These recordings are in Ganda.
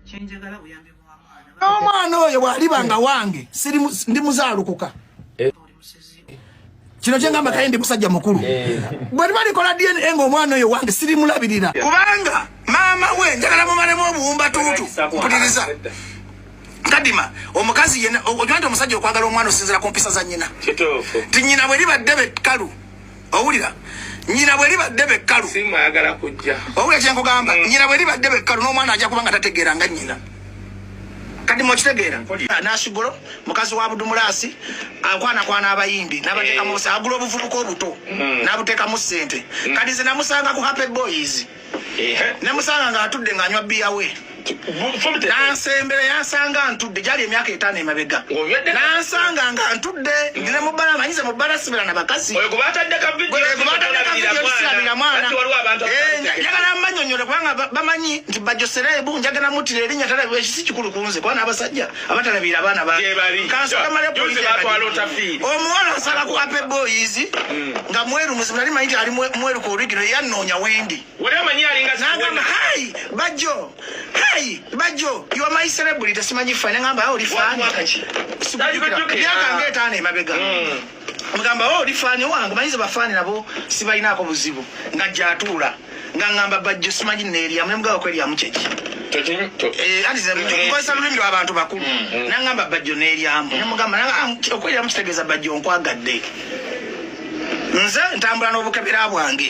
kyenjagala buyambi bwamwana n'omwana oyo bwaliba nga wange siri ndi muzaalukuka eh. kino kyengamba kaye ndi musajja mukulu eh. bwe liba likola dna ng'omwana oyo wange siri mulabirira kubanga maama we njagala mumalemu obuwumba tuutu mpuliriza kadima omukazi yena okimanti omusajja okwagala omwana osinzira ku mpisa za nyina ti nyina bwe liba ddebe kkalu owulira nyina bwe libadde bekkalu owulira kyenkugamba mm. nyina bwe libadde bekkalu n'omwana ajja kuba nga tategeera nga nyina kati mwekitegeera nasigulo mukazi wa budumulaasi akwanakwana abayimbi nabateekamu eh. agula obuvubuka obuto mm. nabuteekamu sente mm. kati zinamusanga ku happy boys ne musanga nga atudde nga anywa biya we nansembera yansanga ntudde gyali emyaka etaano emabega nansanga nga ntudde ndine mubala manyize mubala sibera na bakazi batadekavidiyoisirabira mwana njagala mbanyonyole kubanga bamanyi nti bajoserebu njagala mutira erinya tala ekisi kikulu kunze kuba n'abasajja abatalabira abaana omuwala asala ku ape boys hmm. nga mweru muzibu nali manyi ti ali mweru ku origino eyannoonya wendi nagamba hai bajjo hai bajjo your my celebrity simanyi fane ngamba ah, oli fani myaka nga etaano emabega hmm. omugamba o oh, oli faani owange manyi ze bafaani nabo sibalinaako buzibu nga gyatuula nga ngamba bajjo simanyi neeryamu nemugawa kweryamu kyeki kozesa lulimi lwabantu bakulu nangamba bajjo neeryamu nemugamba okweryamu kitegeeza bajjo nkwagadde nze ntambula n'obukebera bwange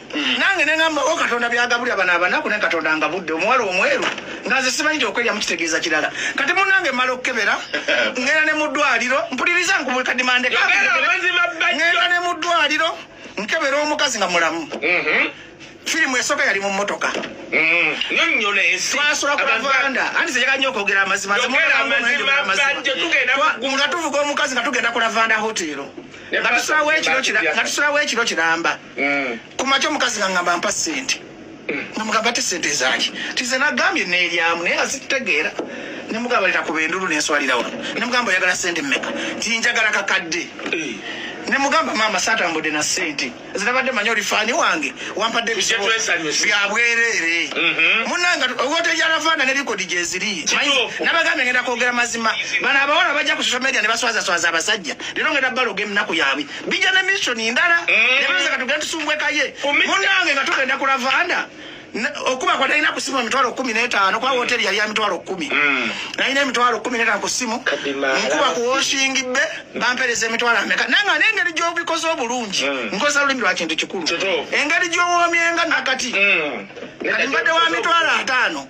Mm. nange nengamba o oh, katonda byagabulira bana abanaku ne katonda nga budde omuwala omweru nga nze simanyi ti okwelya mukitegeeza kirala kati munange mala okukebera ngenda ne muddwaliro mpuliriza nkubulkadimandengenda ne muddwaliro nkebera omukazi nga mulamu mm-hmm. firimu esooka yali mu mmotoka twasula ku lavanda anti zeyaga nyo okwogera amazima nga tuvuga omukazi nga tugenda ku lavanda hotero nga tusulawo ekiro kiramba mm. kumakya omukazi ngangamba mpa sente mm. namugamba te sente ezaki tize nagambye nelyamu naye nga zitutegeera nemugamba leta kuba endulu nenswalirawo nemugamba oyagala sente meka tinjagala kakadde eh. nemugamba maama satambudde na sente zinabadde manya oli fani wange wampadde byabwereere mhm. munanga ogotejalavaana ne likodi gyeziri nabagambye ngenda kwogera mazima bano abawala bajja ku social media ne baswazaswaza abasajja lero ngenda baloga eminaku yabwe bija ne mission ndala mm. ne beza katugenda tusumbwekaye munange nga tugenda kulavanda okuba kwa nalina kusimu emitwalo kumi n'etaano kwa woteri yali ya mitwalo kumi mm. nalina emitwalo kumi n'etaano ku simu nkuba ku woshingi be bampereza emitwalo ameka naye nga n'engeri gy'obikoze obulungi mm. nkozesa lulimi lwa kintu kikulu engeri gy'owoomyenga nakati mm. kati mbadde wa mitwalo ataano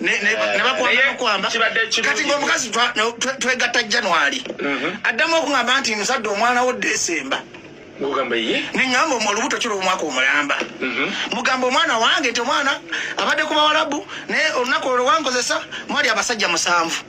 nebakwamba kati ngaomukazi twegatta january mhm. addamu okuŋamba nti nsadde omwana wo desemba neŋamba omu olubuto kiri omwaka omulamba mhm. mugamba omwana wange nti omwana abadde ku bawalabu naye olunaku olwo wankozesa mwali abasajja musanvu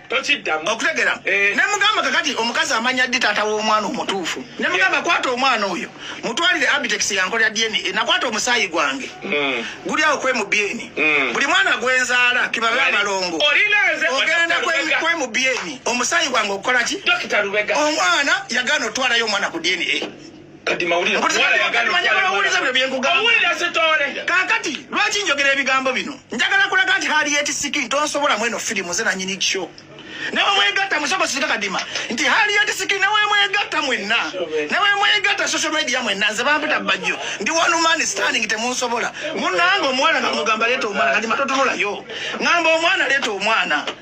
tokiddamu okutegera eh. nemugamba kakati omukazi amanya ddi taata w'omwana omutuufu nemugamba eh. kwata omwana oyo mutwalire abitex yankolera dna eh, nakwata omusaayi gwange hmm. guli awo kwemubyeni hmm. buli mwana gwenzaala kibabe abalongo ogenda kwemubyeni omusaayi gwange okukola ki omwana yagana otwalayo omwana ku dna kati mawulire kakati lwaki njogera ebigambo bino njagala kulaga nti hali yetisiki ntonsobola mweno firimu ze nanyini kisho newemwegatta musoko sika kadima nti hali yetisiki newemwegatta mwenna newemwegatta social media mwenna nze bampita bajjo ndi one man standing temunsobola munange omwana ngamugamba leeta omwana kati matotunulayo ngamba omwana leeta omwana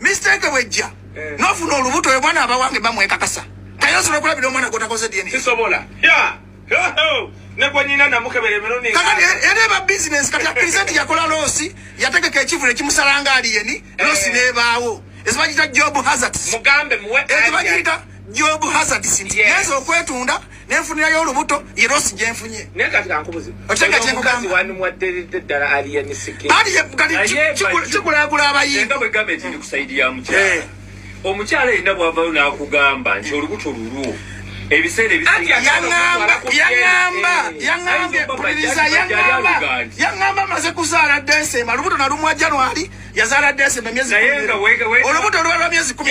Mistake wejja. Eh. Nofuna olubuto oyo bwana abawange bamwekakasa. Tayo sura kula bidomo na kota koze DNA. Sisobola. Yeah. Nekwa nyina na muke bere mero ni. Kaka ene ba business kati ya present ya kola losi yateke ke chifu ne kimusaranga ali yeni eh. losi ne bawo. Ezibajita job hazards. Mugambe muwe. Ezibajita job hazards. Yes. Yezo kwetunda. nenfunirayo olubuto ye losi gyenfunye otegatekigulaagula abayindaomukyala yenna bwavayo nakugamba nti olubuto lulwo ebiseera ebiseyaamba maze kuzaala desemba olubuto nalumwa januari yazaala desemba myezi olubuto lwalwa myezi kumi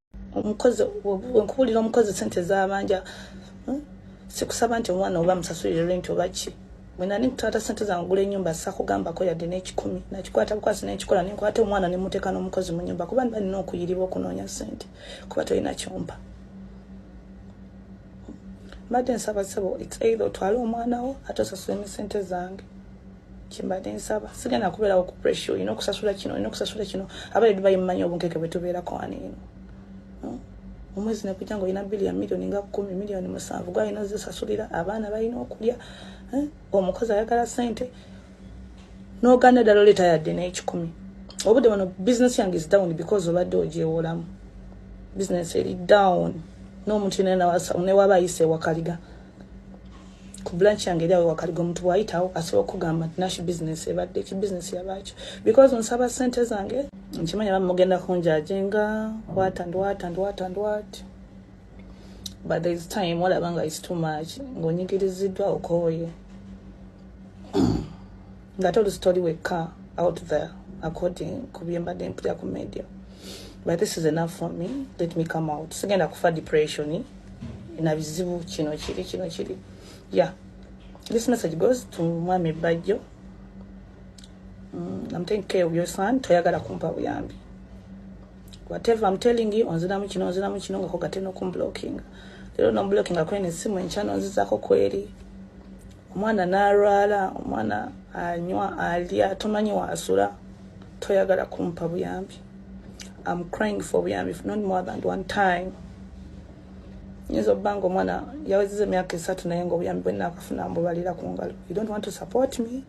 omukozi nkuwulira omukozi sente zabanja hmm? sikusaba nti omwana oba musasulire renti oba ki mwena nikutwata sente zange gula enyumba sakugambako yadde nekikumi nakikwata bukwasi nenkikola nenkwata omwana nemuteeka n'omukozi mu nyumba kuba niba nina okuyiribwa okunoonya sente kuba tolina kyompa mbadde nsaba sebo its either otwale omwana wo ate osasula emisente zange kyembadde nsaba sigenda kubeerawo ku pressure olina okusasula kino olina okusasula kino abali dubayi mumanyi obunkeke bwe tubeerako ani eno hmm? omwezi nekujja nga olina bili ya miliyoni nga kumi miliyoni musanvu gwalina ozisasulira abaana balina okulya hmm? omukozi ayagala sente noganda ddala oleeta yadde n'ekikumi obudde bano bizinesi yange is down because obadde ogyewolamu bizinesi eri down n'omuntu yenayena newaba ayise ewakaliga ku branch yange eri awo wakaliga omuntu bwayitawo asobola okugamba nti nasho business ebadde ki business yabaakyo because nsaba sente zange nkimanya bamugenda kunjaje nga what and what and what and what but there is time olaba nga is too much ng'onyigiriziddwa okooye nga toli sitori wekka out there according ku byembadde mpulira ku media but this is enough for me let me come out sigenda kufa depression na bizibu kino kiri kino kiri yeah this message goes to mwami bajjo mm, i'm taking care of your son toyagala kumpa buyambi whatever i'm telling you onziramu kino onziramu kino nga kogate nokumblocking lero nomblocking akwene simu enkyano nzizako kweri omwana n'alwala omwana anywa alya tomanyi waasula toyagala kumpa buyambi am crying for buyambi not more than one time nyinza okuba nga omwana yawezeza emyaka esatu naye nga obuyambi bwenna akafuna mbubalira ku ngalo you don't want to support me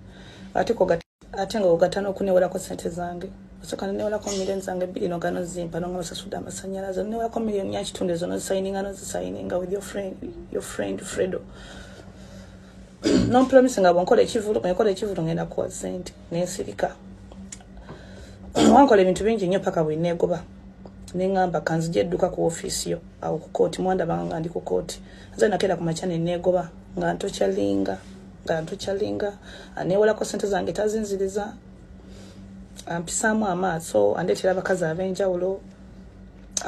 ate kogata ate nga ogata n'okunewerako sente zange osoka nenewolako million zange bbiri nogano zimpa nonga basasude amasanyalaze nenewolako million yakitundu ezo nozisayininga nozisayininga with your friend, your friend fredo nompromisi nga bwenkola ekivulu ngekola ekivulu ngenda kuwa sente nensirika wankola ebintu bingi nnyo paka bwenegoba nengamba kanzija edduka ku ofiisi yo awo ku kooti mwandabanga nga ndi ku kooti nze nakeera ku makya nenegoba nga ntokyalinga nga ntukyalinga aneewolako sente zange tazinziriza ampisaamu amaaso andeetera abakazi ab'enjawulo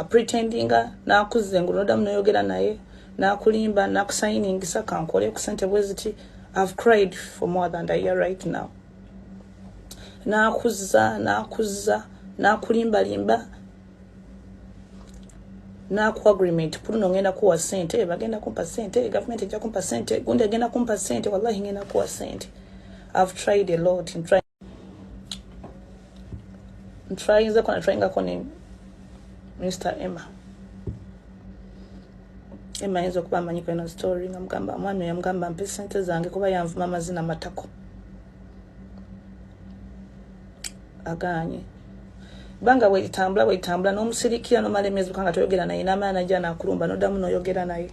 apretendinga n'akuzza engulu nodamu noyogera naye n'akulimba n'akusayiningisa kankole ku sente bwe ziti i've cried for more than a year right now n'akuzza n'akuzza n'akulimbalimba naku agreement kuluno ngenda kuwa sente bagenda kumpa sente government ejja kumpa sente gundi agenda kumpa sente wallahi ngenda kuwa sente i've tried a lot in trying in trying za kuna trying ako ni Mr Emma Emma yenzo kuba manyi kwa story ngamgamba mwami yamgamba mpe sente zange kuba yanvuma mazina matako aganye banga wetambula wetambula nomusirikira nomala emyezi mukanga toyogera naye namala naja nakulumba nodamu noyogera naye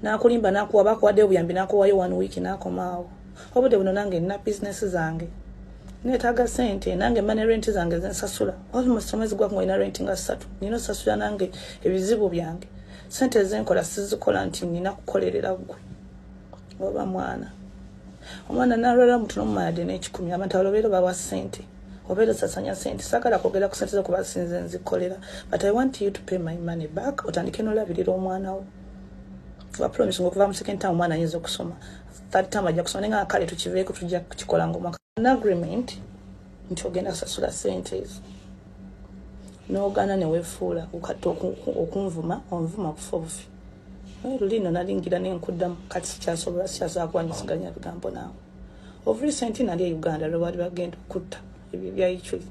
nakulimba nakuwa bakuwadde obuyambi nakuwayo one week nakomaawo obudde buno nange nina business zange netaga sente nange mane renti zange zensasula almost omwezi gwaku ngalina renti nga satu nina osasula nange ebizibu byange sente zenkola sizikola nti nina kukolerera gwe oba mwana omwana nalwala mutuno mumalade nekikumi abantu abalobeera bawa sente obeera osasanya sente sagala kwogera ku sente zo kuba sinze nzikolera but i want you to pay my money back otandike nolabirira omwana wo wapromise nga okuva mu second time omwana ayinza okusoma third time ajja kusoma naye nga kale tukiveeko tujja kukikolanga omwaka an agreement nti ogenda kusasula sente ezo n'ogaana ne weefuula kati okunvuma onvuma kufa obufi naye luliino nalingira ne nkuddamu kati sikyasobola sikyasobola kuwanyisiganya bigambo naawe of recent nali e uganda lwe baali bagenda okutta ebyo byayiculi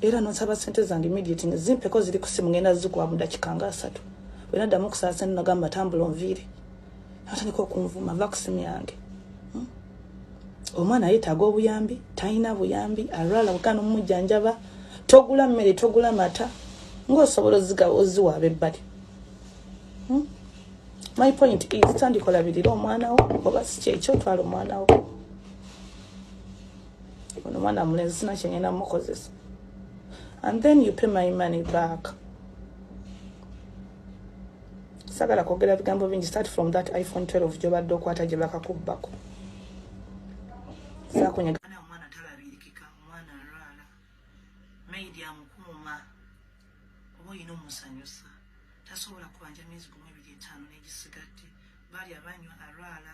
era nonsaba sente zange immediate ne zimpeko ziri ku simu ngenda zikuwa mu dakika nga asatu bwe naddamu okusaasa nagamba tambula onviire atandika okunvuma va kusimu yange hmm? omwana yetaaga obuyambi talina buyambi alwala bukana omumujjanjaba togula mmere togula mata ngaosobola ozigawa oziwa abebbali hmm? my point is tandikolabirira omwanawo oba sikyekyo otwala omwanawo ono omwana mulenzi sina kyengenda mukozesa and then you pay my money back sagala kwogera bigambo bingi start from that iphone 12 gyobadde okwata gye bakakubbako sakunyega omwana talabirikika omwana alwala maidi amukuuma oba olina omusanyusa tasobola kubanja myezi gumu ebiri etaano negisigadde baali abanywa alwala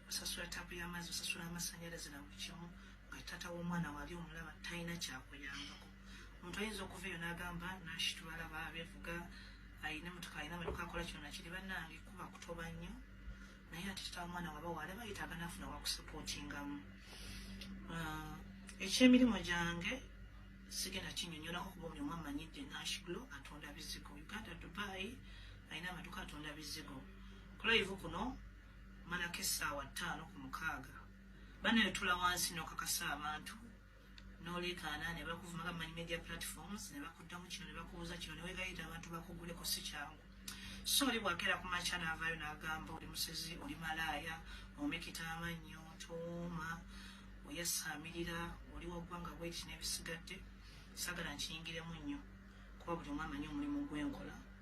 osasula tapu y'amazzi osasula amasanyalaze na buli kimu nga tata w'omwana wali omulaba talina kyakuyambako omuntu ayinza okuva eyo n'agamba nashitwala babevuga ayina mutuka ayina maduka akola kino nakiri bannange kuba kutoba nnyo naye ati tata w'omwana waba wali bayitaaga nafuna wakusapotingamu ah, ekyemirimu gyange sigenda kinyonyolako kuba buli omu amanyidde nashglo atunda bizigo uganda dubai alina amaduka atunda bizigo kulayivu kuno malako essaawa ttaano ku mukaaga bana yotula wansi nokakasa abantu nolekaana nebakuvuma gamanyi media platforms nebakuddamu kino nebakubuuza kino newegayita abantu bakuguleko si kyangu so oli bwakeera ku makya naavaayo nagamba oli musezi oli malaaya omekita amannyo tooma oyasaamirira oli waggwanga bweki nebisigadde sagala nkiyingiremu nnyo kuba buli omu amanyi omulimu gwenkola